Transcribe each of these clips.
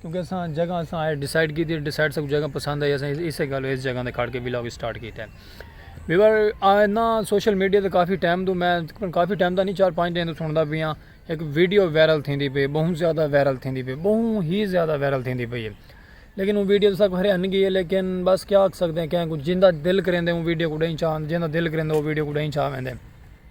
کیونکہ اساں جگہ اساں آئے ڈیسائیڈ کیتی ڈیسائیڈ سب جگہ پسند آئی اساں اس گالو اس جگہ دے کھڑ کے ولاگ سٹارٹ کیتا ہے بیور آئے نا سوشل میڈیا تے کافی ٹائم دوں میں کافی ٹائم دا نہیں چار پانچ دن دوں سندا پیا ایک ویڈیو وائرل تھیندی پئی بہت زیادہ وائرل تھیندی پئی بہت ہی زیادہ وائرل تھیندی پئی ہے لیکن وہ ویڈیو تساں کو ہرے ہن گئی ہے لیکن بس کیا آکھ سکدے ہیں کہیں کو جیندا دل کریندے وہ ویڈیو کو ڈائیں چاہن جیندا دل کریندے وہ ویڈیو کو ڈائیں چاہ ویندے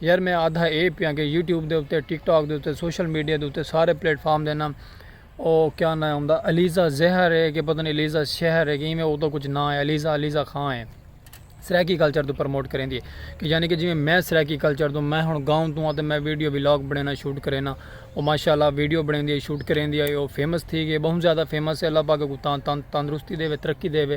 یار میں آدھا اے پیاں کہ یوٹیوب دے اتے ٹک ٹاک دے اتے سوشل میڈیا دے اتے سارے پلیٹ فارم دے نام او کیا نہ ہوندا علیزہ زہر ہے کہ پتہ نہیں علیزہ شہر ہے کہ ایویں او دا کچھ نہ ہے علیزہ علیزہ خاں ہے سرائیکی کلچر دے پروموٹ کریں دی ہے کہ یعنی کہ جیویں میں سرائیکی کلچر دوں میں ہن گاؤں دوں آتے میں ویڈیو وی لاگ بنینا شوٹ کرینا او ماشاءاللہ ویڈیو بنیں دی ہے شوٹ کریں دی ہے او فیمس تھی گئے بہت زیادہ فیمس ہے اللہ پاک کو تاں تاں تندرستی دے وے ترقی دے وے.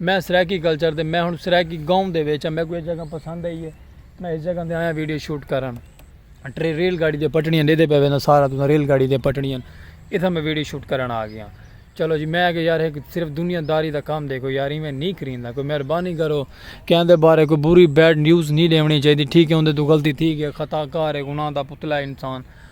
میں سرائیکی کلچر دے میں ہن سرائیکی گاؤں دے وچ میں کوئی جگہ پسند ہے یہ میں اس جگہ دے آیا ویڈیو شوٹ کرن اٹری ریل گاڑی دے پٹڑیاں دے دے پہلے سارا تو ریل گاڑی دے پٹڑیاں اتھا میں ویڈیو شوٹ کرن آ گیا چلو جی میں کہ یار صرف دنیا داری دا کام دیکھو یار میں نہیں کریندا کوئی مہربانی کرو کہاں دے بارے کوئی بری بیڈ نیوز نہیں لیونی چاہیے ٹھیک ہے ان دے تو غلطی تھی گیا خطا کار ہے گناہ دا پتلا انسان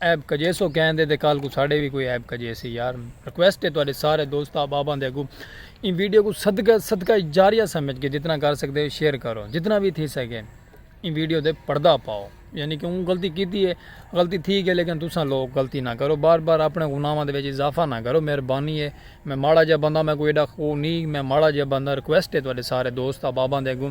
عیب کجیسو کہیں دے تے کل کوں ساڈے وی کوئی عیب کجیسی یار ریکویسٹ ہے تہاڈے سارے دوست احباباں دے اگوں ایں ویڈیو کوں صدقہ صدقہ جاریہ سمجھ کے جتنا کر سکدے ہو شیئر کرو جتنا وی تھی سکے ایں ویڈیو دے پردہ پاؤ یعنی کہ اون غلطی کیتی ہے غلطی تھی گئی لیکن تساں لوگ غلطی نہ کرو بار بار اپنے گناہاں دے وچ اضافہ نہ کرو مہربانی ہے میں ماڑا جا بندہ میں کوئی ایڈا خو نہیں میں ماڑا جا بندہ ریکویسٹ ہے تہاڈے سارے دوست احباباں دے اگوں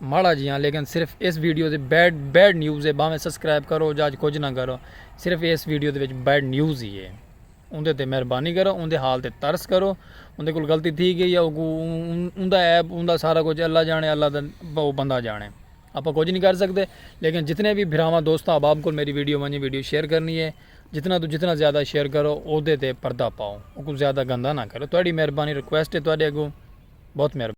ماڑا جی ہاں لیکن صرف اس ویڈیو دے بیڈ بیڈ نیوز ہے باویں سبسکرائب کرو جاج کچھ نہ کرو صرف اس ویڈیو دے وچ بیڈ نیوز ہی ہے ان دے تے مہربانی کرو ان دے حال تے ترس کرو ان دے کول غلطی تھی گئی یا ان دا ایپ ان دا سارا کچھ اللہ جانے اللہ دا وہ بندہ جانے آپ کچھ نہیں کر سکتے لیکن جتنے بھی بھراواں دوستاں احباب کو میری ویڈیو ونجی ویڈیو شیئر کرنی ہے جتنا تو جتنا زیادہ شیئر کرو او دے تے پردہ پاؤ او کو زیادہ گندہ نہ کرو تہاڈی مہربانی ریکویسٹ ہے تہاڈے اگوں بہت مہربانی